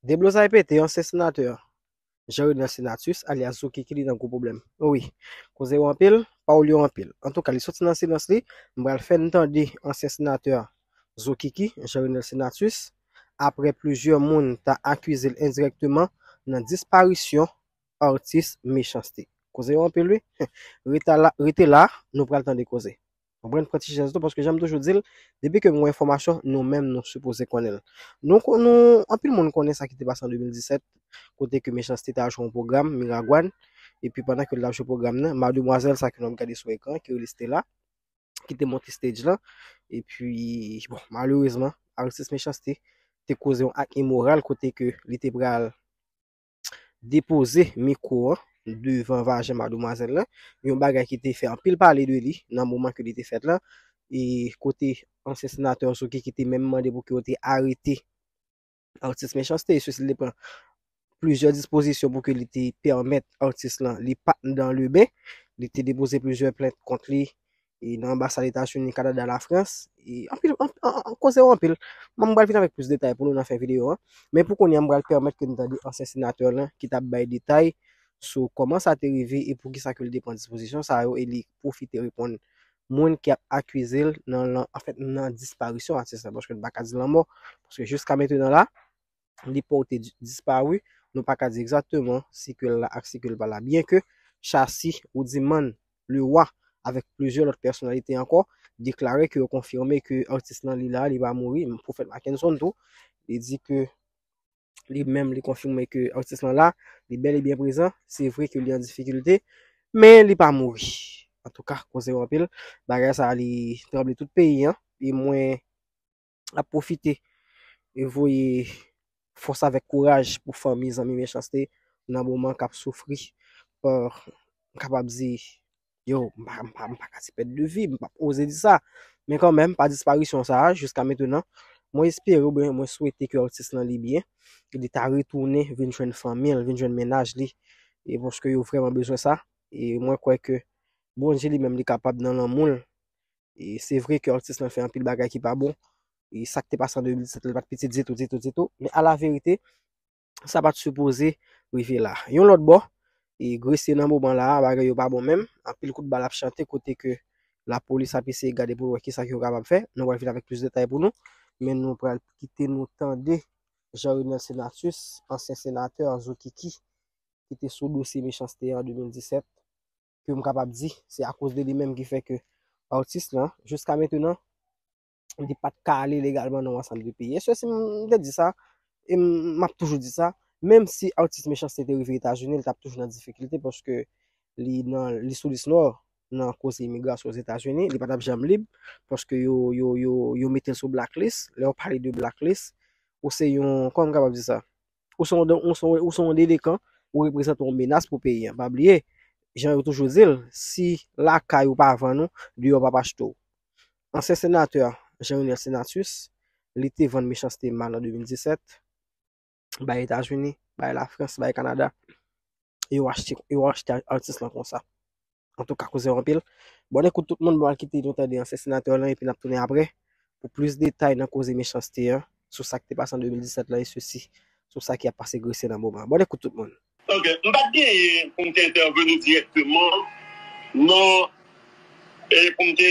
Deblozay pete ansyen senatè Jean Renel Senatus alyas Zouki ki li nan gwo pwoblèm. O wi, koze yo anpil, pawòl yo anpil. Antouka li soti nan silans li, m pral fè n tande ansyen senatè Zokiki, Jean Renel Senatus, aprè plizyè moun ta akize l endirèkteman nan disparisyon atis Mechans-T. Koze yo anpil wi, rete la nou pral tande koze. Konprann pran ti chèz tou paske janm toujou dil, depi ke mwen enfòmasyon nou menm nou sipoze konnenl. Nou kon nou anpil moun konnen sa ki te pase an 2017 kote ke Mechanste ta al jwe yon pwogram Miragwàn epi pandan ke li tap jwe pwogram nan mademwazèl sa ke nou ap gade sou ekran ki rele Stella ki te monte stage lan epi bon malerezman Aristis Mechanste te koze yon ak imoral kote ke li te pral depoze mikwo an devan vajen mademwazèl lan, yon bagay ki te fè anpil pale de li nan moman ke li te fèt la, e kote ansyen senatè Ozoki ki te menm mande pou ke yo te arete atis Mechanste, e sosi li te pran plizyè dispozisyon pou ke li te pèmèt atis lan li pat nan leben, li te depoze plizyè plent kont li, e nan anbasad Etazini, Kanada, Lafrans, e anpil, anpil, koze yo anpil. Mwen bral vin avèk plis detay pou nou nan fen videyo an. Men pou kounye an, bral pèmèt ke nou tande ansyen senatè lan ki tap bay detay sou kòman sa te rive e pou kisa ke li te pran dispozisyon sa yo e li pwofite reponn moun ki ap akize l nan, anfèt, nan disparisyon atis la paske nou pa ka di lanmò paske jiska mentenan la, li pote disparu, nou pa ka di egzakteman si ke l la ak si ke l pa la. Byen ke Shassy, Roudiman, Le Roi avèk plizyè lòt pèsonalite ankò deklare ke yo konfime ke atis lan li la, li pa mouri. Prophète Mackenson tou, li di ke li menm li konfime ke atis lan la, li bèl e byen prezan, se vre ke li an difikilte, men li pa mouri. Antouka, koze yo anpil, bagay sa a li tranble tout peyi an, e mwen ap pwofite voye fòs avèk kouraj pou fanmi zanmi Mechanste nan moman k ap soufri pa m kapab di yo m pa ka di pèt de vi m pa p oze di sa men kanmenm pa disparisyon sa a jiska mentenan mwen espere ou byen mwen swete ke atis lan li byen ke li ta retounen vin jwenn fanmi l vin jwenn mennaj li e paske yo vrèman bezwen sa e mwen kwè ke Bondye li menm li kapab nan lanmou l E se vre ke atis lan fè anpil bagay ki pa bon. E sa k te pase an 2017 la li pa t piti ditou, ditou, ditou. Men a la verite, sa pa t sipoze rive la. Yon lòt bò, e Gresye nan moman la a, bagay yo pa bon menm. Anpil kout bal ap chante kote ke lapolis ap eseye gade pou wè ki sa ke yo kapab fè. Nou pral vin avèk plis detay pou nou. Men nou pral kite nou tande Jean Renel Senatus, ansyen senatè, zokiki, ki te sou dosye mechanste an 2017. ke m kapab di se akoz de li menm ki fè ke atis lan jiska mentenan li pat ka ale legalman nan yon ansanm de peyi. Eswe si m te di sa, e m ap toujou di sa, menm si atis Mechanste te rive Etazini, li t ap toujou nan difikilte paske li nan li sou lis nò nan koze imigrasyon Ozetazini, li pa t ap janm lib paske yo yo yo yo mete l sou blacklist, lè yo pale de blacklist ou se yon, kòman m kapab di sa? Ou se yon delekan, ou reprezante yon menas pou peyi an. Pa bliye, jan yo toujou di l, si lakay ou pa vann ou, deyò pap achte w. Ansyen senatè Jean Renel Senatus, li te vann mechanste mal an 2017, bay Etazini, bay Lafrans, bay Kanada. e yo achte yo achte atis lan konsa. An tou ka koze yo anpil. Bon ekout tout moun bon al kite nou tande ansyen senatè lan epi nap tounen apre pou plis detay nan koze mechanste an sou sa ki te pase an 2017 lan e sesi sou sa ki ap pase Gresye nan moman an. Bon ekout tout moun. Ok, m pat genyen pou m te entèveni dirèkteman nan e pou m te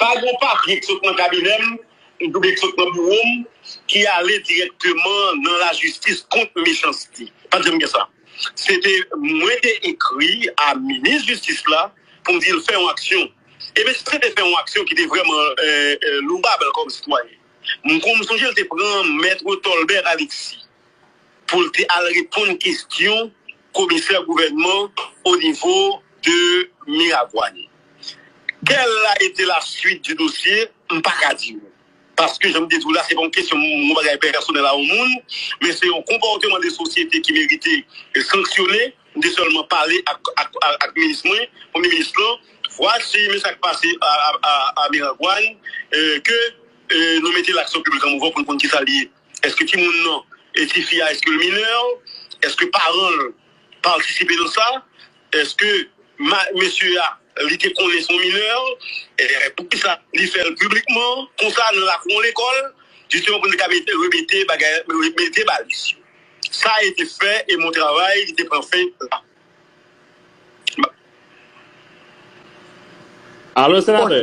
Pa gen yon papye ki sot nan kabinè m oubyen ki sot nan biwo m ki ale dirèkteman nan lajistis kont mechanste. Pa t janm gen sa. Se te mwen te ekri a minis jistis la pou m di l fè yon aksyon. E minis la te fè yon aksyon ki te vrèman louvab kòm sitwayen. M sonje l te pran mèt Tolbert Alexis. pou l te al reponn kestyon komisè gouvènman o nivo de Miragwàn. Kèl a ete la suit di dosye, m pa ka di ou. Paske jan m te di ou la, se pa yon kestyon yon bagay pèsonèl a yon moun, men se yon konpòteman de sosyete ki merite sanksyone. M te sèlman pale ak minis mwen, premye minis lan, vwasi men sa k pase a Miragwàn, ke nou mete l ak sou piblik an mouvman pou n konn ki sa l ye. Eske timoun nan e tifi a eske l minè? Eske paran l patisipe nan sa? Eske mesye a li te konnen son minè? Poukisa li fè l piblikman konsa nan lakou yon lekòl? Jisteman pou n te ka mete remete bagay mete baliz yo. Sa e te fè e mon travay li te pran fen la. Alo senatè.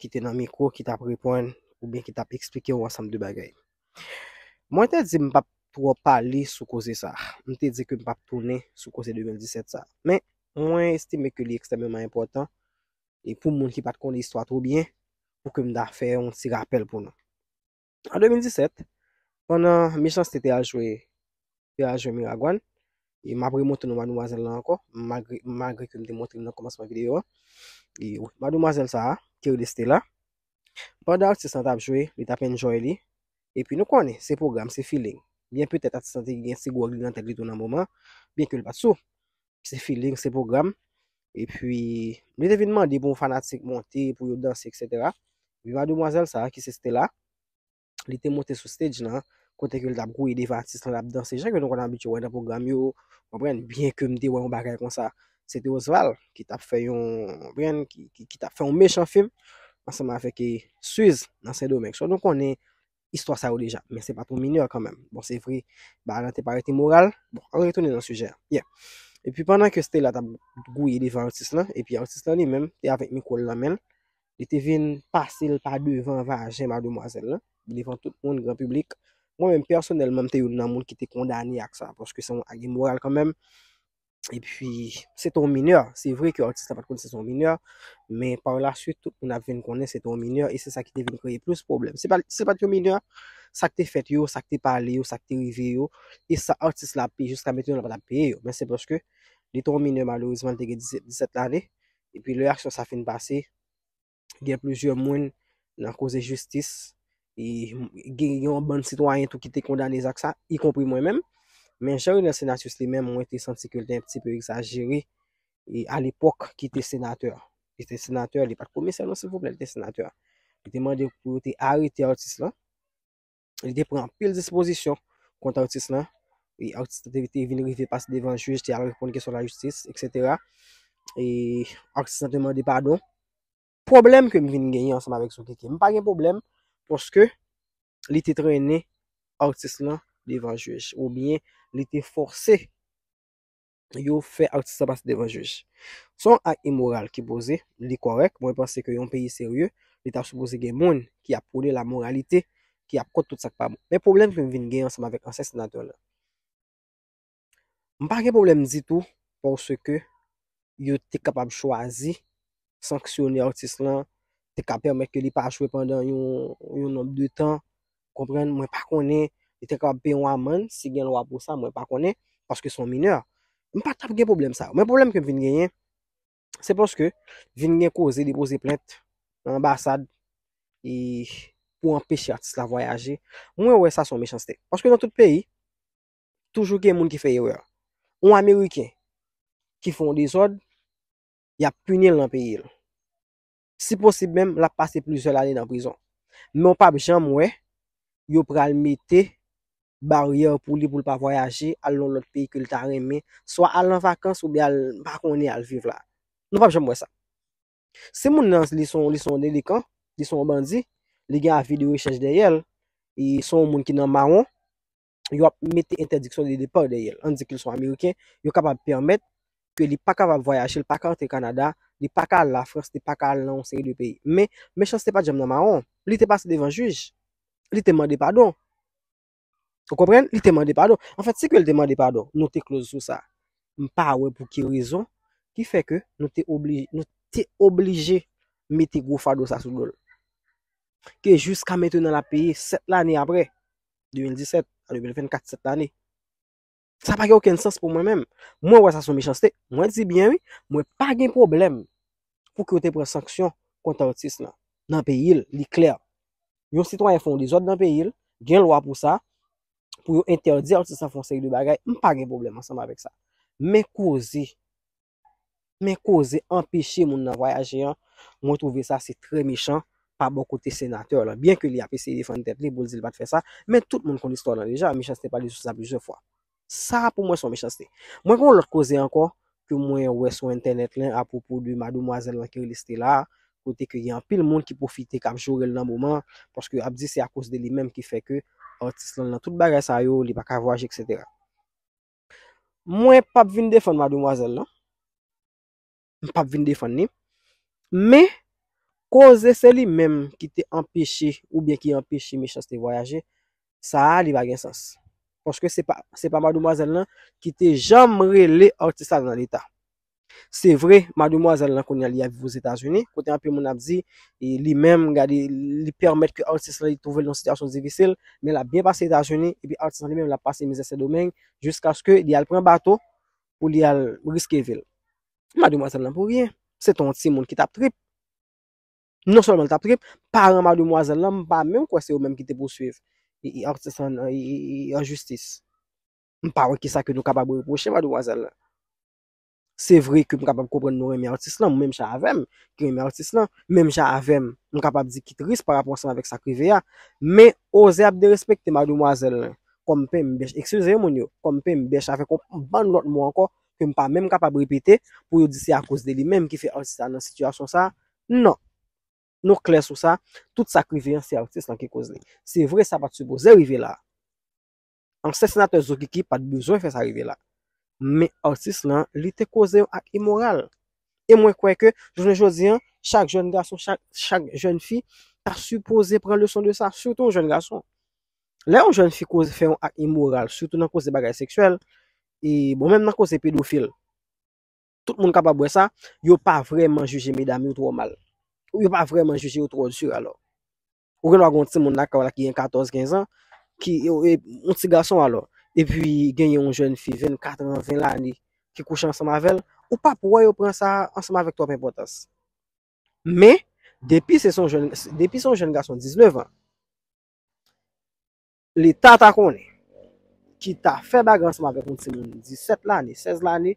ki te nan mikwo ki tap reponn oubyen ki tap eksplike yon ansanm de bagay. Mwen te di m pap twò pale sou koze sa. M te di ke m pap tounen sou koze 2017 sa. Men, mwen estime ke li ekstrèmeman enpòtan e pou moun ki pat konnen istwa twò byen, pou ke m ta fè yon ti rapèl pou nou. An 2017, pandan Mechanste te al jwe te al jwe Miragwàn, e m ap remonte non mademwazèl lan ankò, malgre malgre ke m te montre l nan kòmansman videyo an. E mademwazèl sa a, ki rele Stella, pandan atis lan t ap jwe, li t ap enjoy li, epi nou konnen, se pwogram, se feeling. Byen petèt atis lan te gen ti gwòg li nan tèt li tou nan moman, byenke l pa t sou. se feeling, se program, epi, mwen te vin mande pou fanatik monte, pou yo danse, etc. Epi mademwazel sa, ki se Stella, li te monte sou stage nan, kote ke li tap gouye devan atis lan, lap danse, jan ke nou konn abitye wè nan program yo, konprann, byen ke mte wè yon bagay konsa, se te Osval, ki tap fè yon, konprann, ki tap fè yon mechan film, ansanm avèk e, Suze, nan Sendomeng, so nou konnen, istwa sa yo deja, men se pa pou minè kanmenm. Bon, se vre, ba lan te parete moral, bon, an retounen nan sijè. Yè. E pi pandan ke Stella ta gouye devan atis lan, e pi atis lan li menm, te avèk mikwo l nan menl, li te vin pase l pa devan vajen mademwazèl lan, devan tout moun, gran piblik. Mwen menm, pèsonèlman, m te youn nan moun ki te kondane ak sa, paske se yon ak imoral kanmenm. E pi, se te yon minè. Se vre ke atis la pat konnen se te yon minè, men par la suite, tout moun ap vin konnen se te yon minè, e se sa ki te vin kreye plis pwoblèm. Se te pat yon minè, sa ki te fèt yo, sa ki te pale yo, sa ki te rive yo, e sa atis la ap peye jiska mentnan la pat ap peye yo. Men se paske, li te yon minè malerezman, li te gen 17 lane, e pi lè aksyon sa fin pase, gen plizyè moun nan koze jistis, e gen yon bann sitwayen tou ki te kondane zak sa, y konpri mwen menm, men jan Renel Senatus li menm mwen te santi ke l te yon ti peu egzajere, e a lepok ki te senatè, li te senatè, li pat komisè non silvouplè, li te senatè, li te mande pou yo te arete atis lan, Li te pran pil dispozisyon kont artist lan. E artist te vite vin rive pas devan juj, te al repon kesyon la justis, etc. E artist lan te mande padon. Problem ke m vin genyen ansanm avèk Sokeke, m pa gen problem, poske li te trene artist lan devan juj. Ou byen, li te fose yo fè atis la pase devan jij. Se yon ak imoral ki poze, li kòrèk, mwen panse ke yon peyi serye, li ta sipoze gen moun ki ap pwone lamoralite, ki ap kont tout sa k pa bon. Men pwoblèm ke m vin gen ansanm avèk ansyen senatè la, m pa gen pwoblèm ditou paske yo te kapab chwazi sanksyone atis lan, te ka pèmèt ke li pa jwe pandan yon nonb de tan, konprann, mwen pa konnen, li te kapab peye yon amann, si gen lwa pou sa, mwen pa konnen, paske son minè. Mwen pa tap gen pwoblèm sa. Mwen pwoblèm ke m vin genyen, se paske vin gen koze depoze plent nan ambasad e pou anpeche atis la vwayaje. Mwen wè sa son mechanste. Paske nan tout peyi, toujou gen moun ki fè erè. Yon Ameriken ki fon dezòd, y ap pini l nan peyi l. Si posib menm, l ap pase plizyè lane nan prizon. Men w pap janm wè yo pral mete baryè pou li pou l pa vwayaje al yon lòt peyi ke l ta renmen, swa al an vakans oubyen al m pa konnen al viv la. Nou pap janm wè sa. Si moun nan li se yon delikan, li se yon bandi, li gen avi de rechèch dèyè l, li se yon moun ki nan mawon, yo ap mete entèdiksyon de depar dèyèl, an di ke li son Ameriken, yo kapab pèmèt ke li pa kapab vwayaje, li pa ka antre Kanada, li pa ka al la Frans, li pa ka al nan yon seri de peyi. Men, mechanste pat janm nan mawon. Li te pase devan jij. Li te mande padon. Ou konprann? Li te mande padon. An fèt, si ke li te mande padon, nou te kloz sou sa. M pa wè pou ki rezon ki fè ke nou te oblije, nou te oblije mete gwo fado sa sou do l. Ke jiska mentenan l ap peye 7 lane apre. 2017 a 2024, 7 lane. Sa pa gen oken sens pou mwen menm. Mwen wè sa sou mechanste. Mwen di byen wi, mwen pa gen problem pou ki yo te pran sanksyon kont artis la. Nan peyi l, li klè. Yon sitwayen fon dezòd nan peyi l, gen lwa pou sa, pou yo entèdi artis la fon seri de bagay, m pa gen problem ansanm avèk sa. Men koze, Men koze anpeche moun nan vwayaje an, mwen twouve sa se trè mechan pa bò kote senatè lan, byen ke li ap eseye defann tèt li pou l di l pa t fè sa, men tout moun konn istwa lan deja, Michanste pale sou sa plizyè fwa. Sa a pou mwen s on mechanste. Mwen gen yon lòt koze ankò ke mwen wè sou entènèt lan apwopo de mademoiselle lan ki rele Stella a, kote ke gen anpil moun ki pwofite k ap jore l nan moman an, paske yo ap di se akoz de li menm ki fè ke atis lan nan tout bagay sa yo, li pa ka vwayaje eksetera. Mwen pap vin defann mademwazèl nan. M pap vin defann ni. Men, koze se li menm ki te anpeche ou byen ki anpeche Mechans te vwayaje, sa a li pa gen sans. Paske se pa mademwazèl nan ki te janm rele atis la nan leta. Se vre, mademwazèl lan kounye a li ap viv Ozetazini, kote anpil moun ap di li menm gade li pèmèt ke atis lan li twouve l nan yon sitiyasyon difisil, men l ap byen pase Etazini, epi atis lan li menm l ap pase mizè Sendomeng, jiskaske li al pran bato pou li al riske vi l. Mademwazèl lan pou ryen, se te yon timoun ki t ap trip. Non sèlman li t ap trip, paran mademwazèl lan m pa menm kwè se yo menm ki te pouswiv atis lan an jistis. M pa wè kisa ke nou kapab repwoche mademwazèl lan. Se vre ke m kapab konprann nou renmen atis lan, menm jan avè m, ki renmen atis lan, menm jan avè m, m kapab di ki tris pa rapò ansanm avèk sa k rive a, men oze ap derespekte mademwazèl lan, kòm penmbèch, ekskize moun yo, kòm penmbèch avèk yon bann lòt mo ankò ke m pa menm kapab repete pou yo di se akoz de li menm ki fè atis la nan sitiyasyon sa a. Non! Nou klè sou sa, tout sa k rive an se atis lan ki koz li. Se vre sa pa t sipoze rive la a. Ansyen senatè Zokiki pat bezwen fè sa rive la. Men atis lan li te koze yon ak imoral. E mwen kwè ke jounen jodi an, chak jèn gason, chak jèn fi ta sipoze pran leson de sa, sitou yon jèn gason. Lè yon jèn fi koze fè yon ak imoral, sitou nan koze bagay seksyèl, e bon menm nan koze pedofil, tout moun kapab wè sa, yo pa vrèman jije medam yo twò mal. Ou yo pa vrèman jije yo twò di alò. Ou gen dwa gen yon ti moun lakay ou la ki gen 14, 15 ans, ki yon ti gason alò, epi gen yon jèn fi 24 ans, 20 lane ki kouche ansanm avèl, ou pap wè yo pran sa ansanm avèk twòp enpòtans. Men, depi se son jèn, depi son jèn gason 19 ans, Leta ta konnen, ki ta fè bagay ansanm avèk yon timoun 17 lane, 16 lane,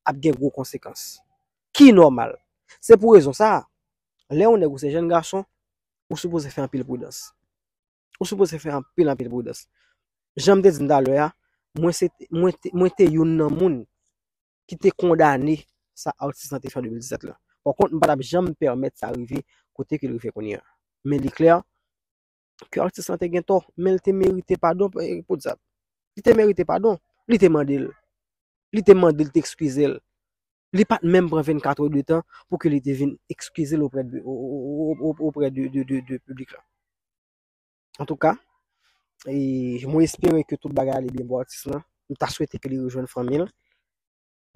ap gen gwo konsekans. Ki nòmal. Se pou rezon sa a, lè yon nèg ou se jenn gason, ou sipoze fè anpil pridans. Ou sipoze fè anpil anpil pridans. Jan m te di nou talè a, mwen se te, mwen te, mwen te youn nan moun ki te kondane sa atis lan te fè an 2017 la. Pòkont, m pa t ap janm pèmèt sa rive kote ke l rive kounye a. Men li klè, ke atis lan te gen tò, men li te merite padon podyab. Li te merite padon. Li te mande l. Li te mande l te ekskize l. Li pa t menm pran 24 è de tan pou ke li te vin ekskize l oprè de, oprè de, de, de, de piblik la. Antouka, mwen espere ke tout bagay ale byen pou atis lan. M ta swete ke li rejwenn fanmi l.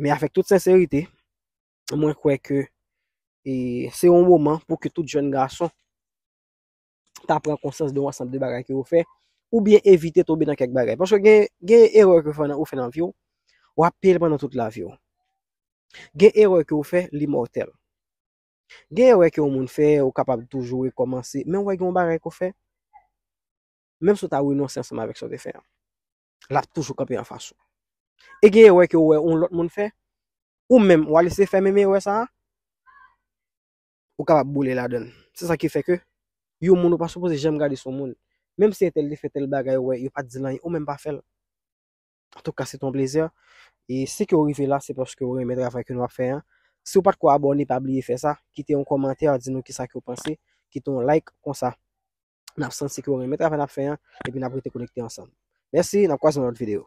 Men avèk tout senserite, mwen kwè ke se yon moman pou ke tout jèn gason ta pran konsyans de yon ansanm de bagay ke ou fè, oubyen evite tonbe nan kèk bagay. Paske gen, gen erè ke ou fè nan vi ou, w ap peye l pandan tout lavi ou. Gen erè ke ou fè, li mòtèl. Gen erè ke yon moun fè, ou kapab toujou rekòmanse, men ou wè gen yon bagay ke ou fè, menm si ou ta renonse ansanm avèk sa ou te fè an, l ap toujou kanpe anfas ou. E gen erè ke ou wè yon lòt moun fè, ou menm, w al eseye fè menm erè sa a, ou kapab boule ladan l. Se sa ki fè ke yon moun ou pa sipoze janm gade sou moun. Menm si entèl te fè tèl bagay wè yo pa t di l anyen ou menm pa fè l. Antouka se te yon plezi. E si ke ou rive la se paske ou renmen travay ke nou ap fè an. Si ou pa t ko abòne pa bliye fè sa. Kite yon kòmantè di nou kisa ke ou panse. Kite yon like konsa n ap santi ke ou renmen travay n ap fè an epi n ap rete konekte ansanm. Mèsi n ap kwaze nan lòt videyo.